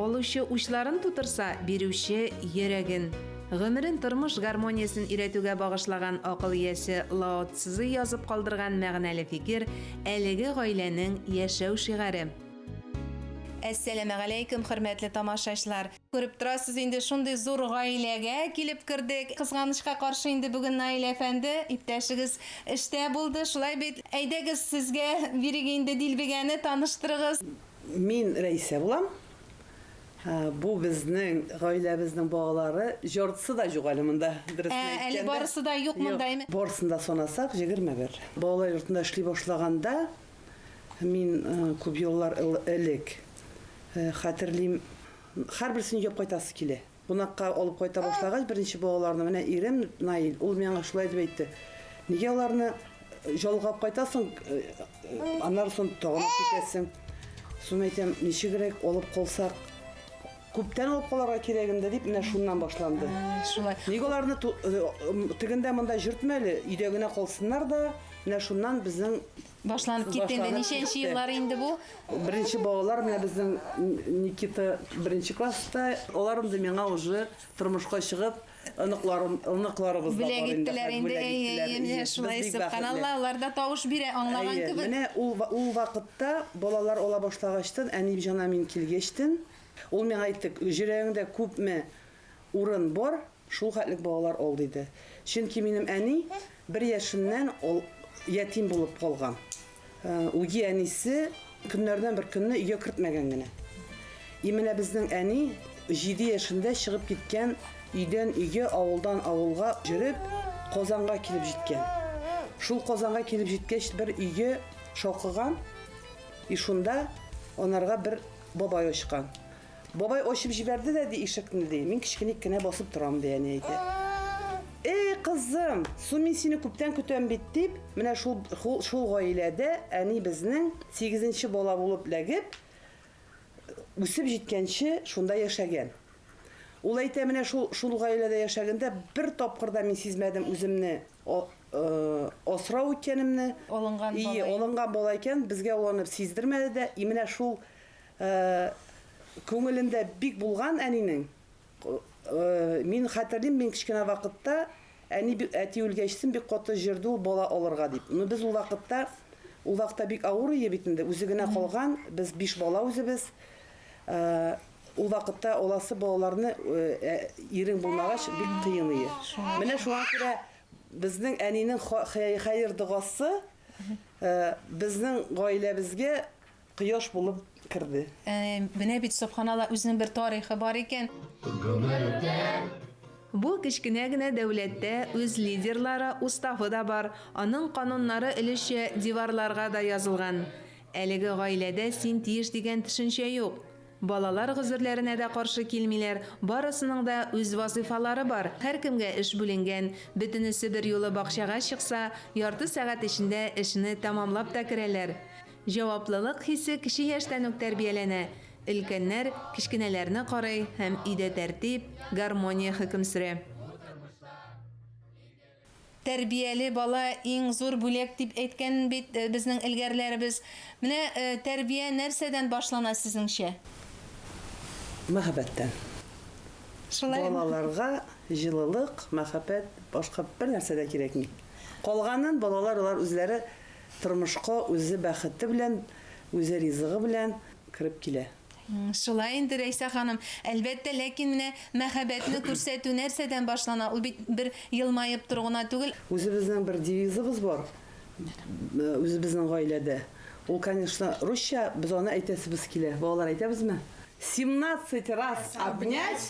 Алучы учларын тутырса, бирүче, йөрәген. Гомерен тормыш гармониясен өйрәтүгә багышлаган акыл иясе Лао Цзы язып калдырган мәгънәле фикер, әлеге гаиләнең яшәү шигаре. Әссәламегаләйкем, хөрмәтле тамашачлар! Күреп торасыз, инде шундый зур гаиләгә килеп кердек. Кызганычка каршы, инде бүген Наил әфәнде, иптәшегез эштә булды, шулай бит? Әйдәгез, сезгә бирик инде дилбегәне, таныштырыгыз. Мин Рәисә булам. Бу безнең гаиләбезнең балалары. Җарысы да юк әле монда, дөресен әйткәндә. Әле барысы да юк монда. Барысын да санасак, җегерме бер. Балалар йортында эшли башлаганда, Мин күп еллар элек хәтерлим, һәрберсен өйгә кайтасы килә. Кунакка алып кайта башлагач, беренче балаларны менә ирем Наил, ул миңа шулай дип әйтте. Нигә аларны жалгап кайтасың, аннары соң тагын алып китәсең. Соң әйтәм, ничегрәк алып калсак, Күптән алып калырга кирәк инде дип, менә шуннан башланды. Шулай. Ник аларны ту- э, м, тегендә монда җөртмә әле, өйдә генә калсыннар да, менә шуннан безнең Башланып китте инде. Башланып Ничәнче китте. еллар инде бу? Беренче балалар менә безнең Н- Никита беренче класста. Алар инде миңа уже тормышка чыгып, Оныкларым, оныкларыбыз да бар инде. Бүләк иттеләр инде, әйе, әйе, менә шулай сөбханалла, алар да тавыш бирә, аңлаган кебек. Әйе, менә ул, ул вакытта балалар ала башлагачтын, әни җана мин килгәчтен, ул миңа әйтте, җөрәгеңдә күпме урын бар, шул хәтлек балалар ал, диде. Чөнки минем әни Бер яшеннән ул ятим булып калган. Үги әнисе көннәрдән бер көнне өйгә кертмәгән генә. И менә безнең әни җиде яшендә чыгып киткән өйдән өйгә, авылдан авылга йөреп, Казанга килеп җиткән. Шул Казанга килеп җиткәч, бер өйгә шакыган, и шунда анарга бер бабай ачкан. Бабай ачып җибәрде дә, ди, ишекне, ди. Мин кечкеник кенә басып торам, ди, әни әйтә. Эй, кызым, су мин сине күптән көтәм бит, дип, менә шул, шул, шул гаиләдә әни безнең сигезенче бала булып ләгеп, үсеп җиткәнче шунда яшәгән. Ул әйтә, менә шул, шул гаиләдә яшәгәндә бер тапкыр да мин сизмәдем үземне а, э, асрау икәнемне. Алынган бала. Ие, алынган бала икән, безгә уланып сиздермәде дә. И менә шул Ә күңелендә бик булган әнинең. Мин хәтерлим, мин кечкенә вакытта, әни бик, әти үлгәчсен, бик каты җөрде ул бала алырга дип. Ну, без ул вакытта, ул вакытта бик авыр ие бит инде, үзе генә калган, без биш бала үзебез. Ә ул вакытта аласы балаларны, ә ирең булмагач, бик кыен ие. Менә шуңа күрә безнең әнинең ха, хәер догасы, ә безнең гаиләбезгә Кояш булып керде. Менә бит, собханалла, үзенең бер тарихы бар икән. Бу кечкенә генә дәүләттә үз лидерлары, уставы да бар, аның кануннары өлешчә диварларга да язылган. Әлеге гаиләдә син тиеш дигән төшенчә юк. Балалар гозерләренә дә каршы килмиләр, барысының да үз вазыйфалары бар, һәркемгә эш бүленгән. Бөтенесе берьюлы бакчага чыкса, ярты сәгать эчендә эшне тәмамлап та керәләр. Җаваплылык хисе кече яшьтән үк тәрбияләнә, өлкәннәр кечкенәләрне карый һәм өйдә тәртип, гармония хөкем сөрә. Тәрбияле бала, иң зур бүләк, дип әйткән бит безнең элгәрләребез. Менә тәрбия нәрсәдән башлана сезнеңчә? Мәхәббәттән. Шулаймы? Балаларга җылылык, мәхәббәт, башка бернәрсә дә кирәкми. Калганын балалар алар үзләре Тормышка үзе бәхете белән, үзе ризыгы белән кереп килә. Шулай инде, Рәйсә ханым. Әлбәттә, ләкин менә мәхәббәтне күрсәтү нәрсәдән башлана? Ул бит бер елмаеп тору гына түгел. Үзебезнең бер девизыбыз бар үзебезнең гаиләдә. Ул, конечно, русча, без аны әйтәсебез килә. Балалар, әйтәбезме? Семнадцать раз обнять,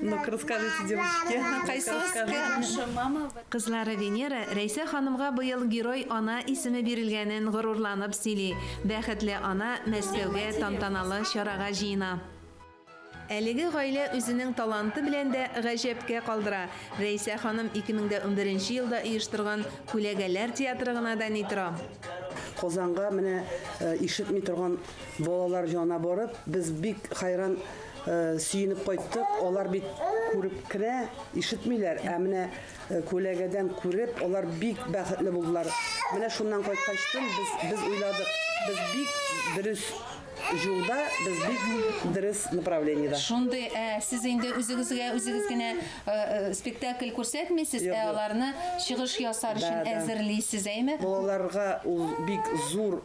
Ну-ка, расскажите, девочки. Кызлары Венера Рәйсә ханымга быел Герой ана исеме бирелгәнен горурланып сөйли. Бәхетле ана Мәскәүгә тантаналы чарага җыена. Әлеге гаилә үзенең таланты белән дә гаҗәпкә калдыра. Рәйсә ханым 2011 елда оештырган Күләгәләр театры гына да ни тора. Казанга менә ишетми торган балалар җана барып, без бик хайран Сөенеп кайттык, алар бит күреп кенә ишетмиләр, ә менә күләгәдән күреп, алар бик бәхетле булдылар. Менә шуннан кайткачтын без без уйладык, без бик дөрес юлда без бик дөрес направлениедә. Шундый, ә сез инде үзегезгә үзегез генә э, э, спектакль күрсәтмисез, ә аларны чыгыш ясар өчен әзерлисез, әйме? Балаларга ул бик зур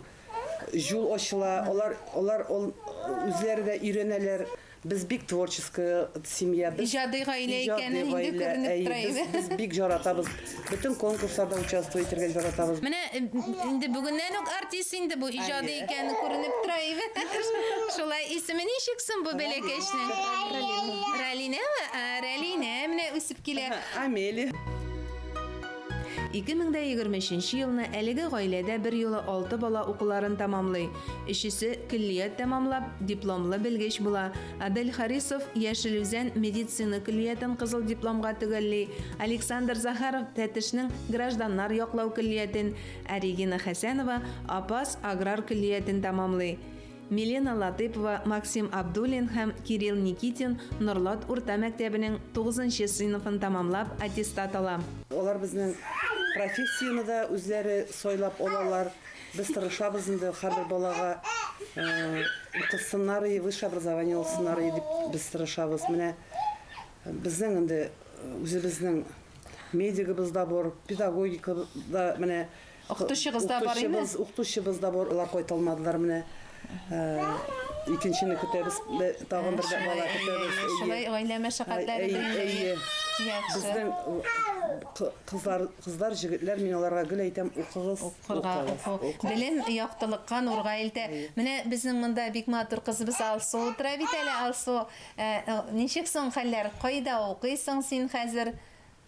Җул ачыла, алар алар үзләре дә өйрәнәләр. Без бик творческий семья. Без иҗади гаилә икәне инде күренеп тора иде. Без бик җаратабыз. Бөтен конкурсларда участвовать итәргә җаратабыз. Менә инде бүгеннән үк артист инде бу, иҗади икәне күренеп тора иде. Шулай, исеме ничек соң бу бәләкәчнең? Ралина. Ралинәме? Ралинә менә үсеп килә. Амелия. 2023 нче елны әлеге гаиләдә берьюлы алты бала укуларын тәмамлый. Өчесе көллият тәмамлап, дипломлы белгеч була. Адель Харисов Яшел Үзән медицина көллиятен кызыл дипломга төгәлли, Александр Захаров Тәтешнең гражданнар яклау көллиятен, ә Регина Хәсәнова Апас аграр көллиятен тәмамлый. Милена Латыпова, Максим Абдуллин һәм Кирилл Никитин Норлат урта мәктәбенең тугызынчы сыйныфын тәмамлап аттестат ала. Алар безнең профессияне дә үзләре сайлап алалар. Без тырышабыз инде, һәрбер балага укысыннар и высшее образование алсыннар и дип без тырышабыз. Менә безнең инде үзебезнең медигыбыз да бор, педагогика да менә Укытучыгыз да бар име? Укытучыбыз, укытучыбыз да бар, алар кайталмадылар менә. Икенчене көтәбез, тагын бер бала көтәбез. Шулай гаилә мәшәкатьләре дигәндәй. Безнең кызлар, кызлар, җегетләр, мин аларга гел әйтәм, укыгыз, укыгыз. Белем яктылыкка нурга илтә. Менә безнең монда бик матур кызыбыз Алсу утыра бит әле, Алсу. Ничек соң хәлләр? Кайда укыйсың син хәзер?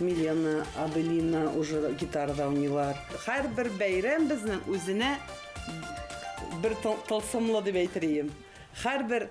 Милена, Аделина уже гитарада уйныйлар. Һәрбер бәйрәм безнең үзенә бер тылсымлы дип әйтер идем. Һәрбер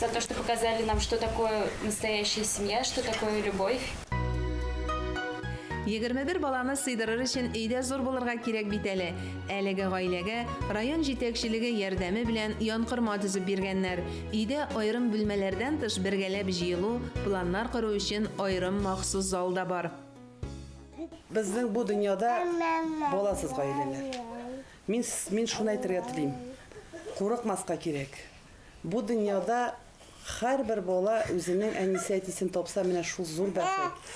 за то, что показали нам, что такое настоящая семья, что такое любовь. Егерме бер баланы сыйдырыр өчен өйдә зур булырга кирәк бит әле. Әлеге гаиләгә район җитәкчелеге ярдәме белән янкорма төзеп биргәннәр. Өйдә аерым бүлмәләрдән тыш бергәләп җыелу, планнар кору өчен аерым махсус зал да бар. Күп безнең бу дөньяда баласыз гаиләләр. Мин, мин шуны әйтергә телим, курыкмаска кирәк. Бу дөньяда хәрбер бала үзенең әнисе-әтисен тапса менә шул зур бәхет.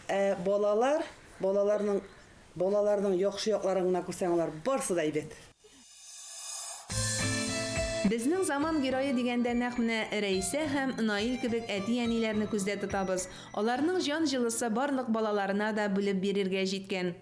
Ә балалар, балаларның, балаларның яхшы якларын гына күрсәң алар барсы да әйбәт. Безнең заман герое дигәндә нәкъ менә Рәисә һәм Наил кебек әти-әниләрне күздә тотабыз. Аларның җан җылысы барлык балаларына да бүлеп бирергә җиткән.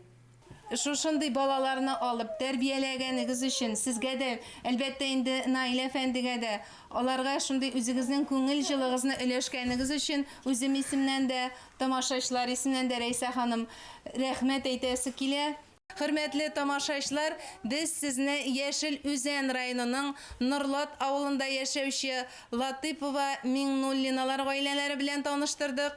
Шушындый балаларны алып, тәрбияләгәнегез өчен сезгә дә, әлбәттә инде, Наил әфәндегә дә, аларга шундый үзегезнең күңел җылыгызны өләшкәнегез өчен үзем исемнән дә, тамашачылар исеннән дә, Рәйсә ханым, рәхмәт әйтәсе килә. Хөрмәтле тамашачлар, без сезне Яшел Үзән районының Норлат авылында яшәүче Латыпова, Миңнуллиналар гаиләләре белән таныштырдык.